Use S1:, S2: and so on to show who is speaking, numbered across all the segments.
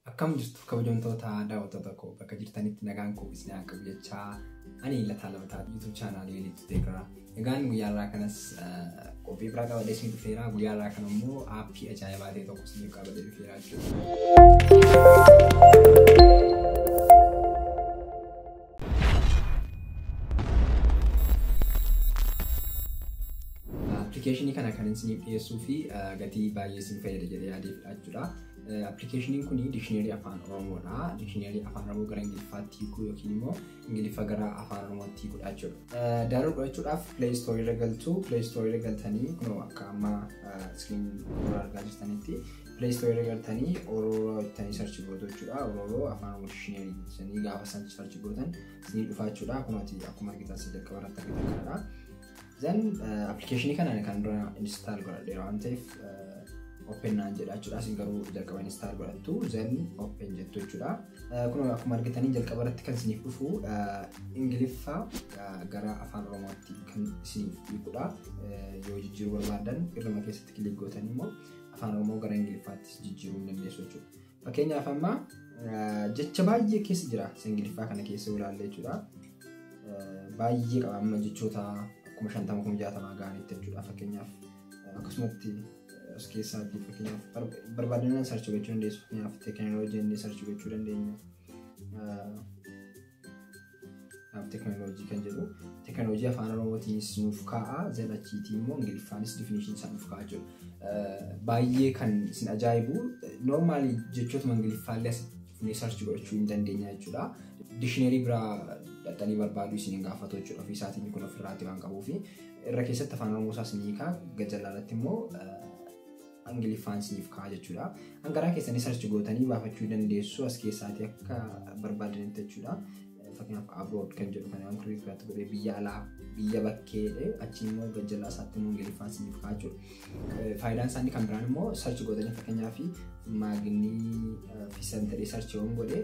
S1: Akkam jirtu kabajamtoota daawwattoota koo bakka jirtanitti nagaan koo isin haa qabu jechaa ani lataa labataa YouTube chaanaalii Elite Tegra. Egaan guyyaa irraa kanas eh, qophii biraa qabadhee isin dhufeera. Guyyaa irraa kana immoo aappii ajaa'ibaa ta'e tokko isiniif qabadhee dhufeera jechuudha. Appilikeeshinii kana kan isiniif dhiyeessuu fi gatii baay'ee isin fayyada jedhee yaadee fidhachuudha. Appilikeeshiniin kun dikshineerii afaan Oromoodha. Dikshineerii afaan Oromoo gara Ingiliffaatti hiikuu yookiin immoo Ingiliffa gara afaan Oromootti hiikuu jechuudha. Daaruu godhachuudhaaf Play Store irra galtu. Play Store irra galtanii kunoo akka amma iskiriin irra argaa jirtanitti Play Store irra galtanii Orooroo jettanii sarchi gootu jechuudha. Orooroo afaan Oromoo dictionary jettanii gaafa san sarchi gootan isinii dhufaa jechuudha. Akkuma ati akkuma argitan si jalqaba irratti argitan kanadha. Zan appilikeeshinii kana ani kan dura install godhadheera waan ta'eef open naan jedha jechuudha. Isin garuu jalqaba install godhattu zan open jettu jechuudha. Kun akkuma argitanii jalqaba irratti kan isiniif dhufu Ingiliffa gara afaan Oromootti kan isiniif hiikudha. Yoo jijjiiruu barbaadan irruma keessatti kilik gootanii immoo afaan oromoo gara ingiliffaattis jijjiiruu hin dandeessu jechuudha. Fakkeenyaaf amma jecha baay'ee keessa jira isa ingiliffaa kana keessa yoo ilaalle jechuudha. Baay'ee qaba amma jechoota kuma shantama kuma jaatamaa ga'anitti jechuudha fakkeenyaaf akkasumatti as keessaatti fakkeenyaaf barbaadinaan sarchi gochuu dandeessu fakkeenyaaf teekinooloojii inni sarchi gochuu dandeenya. Naaf teknooloojii kan jedhu teknooloojii afaan oromootiinis nuuf kaa'a zalachiitii immoo ingiliffaanis difinishinii isaa nuuf kaa'a jiru. Baay'ee kan isin ajaa'ibu normaali jechootuma ingiliffaallee asitti dhufnee sarchi godhachuu hin dandeenya jechuudha. Dikshinarii biraa dhaxxanii barbaaduu isin hin gaafatu jechuudha ofii isaatiin kun ofirraati waan qabuufi irra keessatti afaan oromoo isaas ni hiika gajallaa irratti immoo Ingiliffaan siif ka'a jechuudha. Hangaraa keessanii sarchi gootanii baafachuu dandeessu as keessaatii akka barbaadanitti jechuudha. Fakkeenyaaf abroad kan jedhu kan waan kirrii firaatti godhee biyya alaa biyya bakkeedhe achi immoo gajjallaa isaatti immoo ingiliffaan siif ka'a jechuudha. Faayidaan isaanii kan biraan immoo sarchi gootanii fakkeenyaaf maaginii fi santarii sarchiiwwan godhee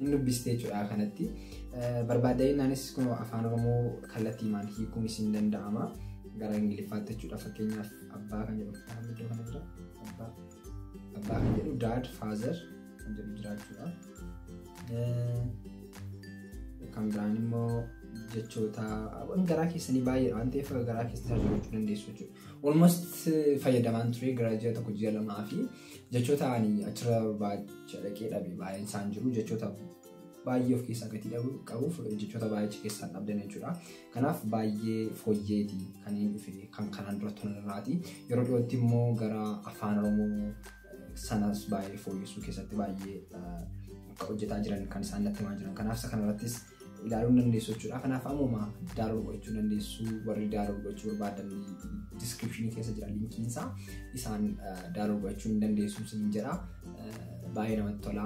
S1: hin dubbiste jechuudha kanatti. Barbaadda'innaanis kunoo afaan Oromoo kallattiimaan hiikuun isin danda'ama. Gara Ingiliffaatti jechuudha fakkeenyaaf abbaa kan jedhu afaan iddoo kana jira. Abbaa abbaa kan jedhu daad faazer kan jedhu jira jechuudha. Kan biraan immoo jechoota waan garaa keessanii baay'ee waan ta'eef garaa keessanii hojjechuu dandeessu jechuudha. Almost fayyadamaan ture gara ji'a tokko ji'a lamaa fi Jechoota ani achirra baacha dhaqee dhabe baay'een isaan jiru. Jechoota baay'ee of keessaa gatii dhabu qabuuf jechoota baay'ee keessaan dhabdan jechuudha. Kanaaf baay'ee fooyyeeti kan hin dhufe kan kanaan dura turan irraati. Yeroo dhiyootti immoo gara afaan Oromoo sanas baay'ee fooyyessuu keessatti baay'ee hojjetaa jiran kan isaan natti himaa jiran. Kanaaf isa kanarrattis ilaaluu ni dandeessu jechuudha. Kanaaf ammuma download gochuu dandeessu warri download gochuu barbaadan description keessa jira linkiin isaa isaan download gochuu ni dandeessu sin jedha. Baay'ee namatti tola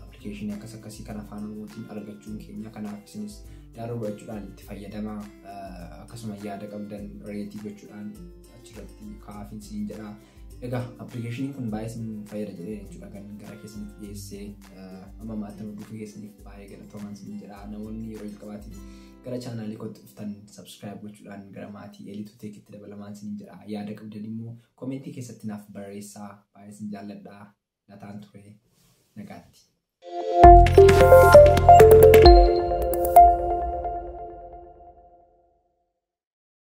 S1: application akkas akkasii kan afaan Oromootiin argachuun keenya kanaaf isinis download gochuudhaan itti fayyadamaa akkasuma yaada qabdan reetii gochuudhaan achirratti kaa'aa sin jedha. Egaa appilikeeshiniin kun baay'ee isin fayyada jedhee jechuudha kan gara keessanitti dhiyeessee amma maatii guutuu keessaniif baay'ee galatoomaa isin jedha namoonni yeroo jalqabaatiif gara chaanaalii kootti dhuftan sabskiraayib gochuudhaan gara maatii eliitu teekitti dabalamaa isin jedha yaada qabdan immoo koomentii keessatti naaf barreessaa baay'ee isin jaalladha nataan ture nagaatti.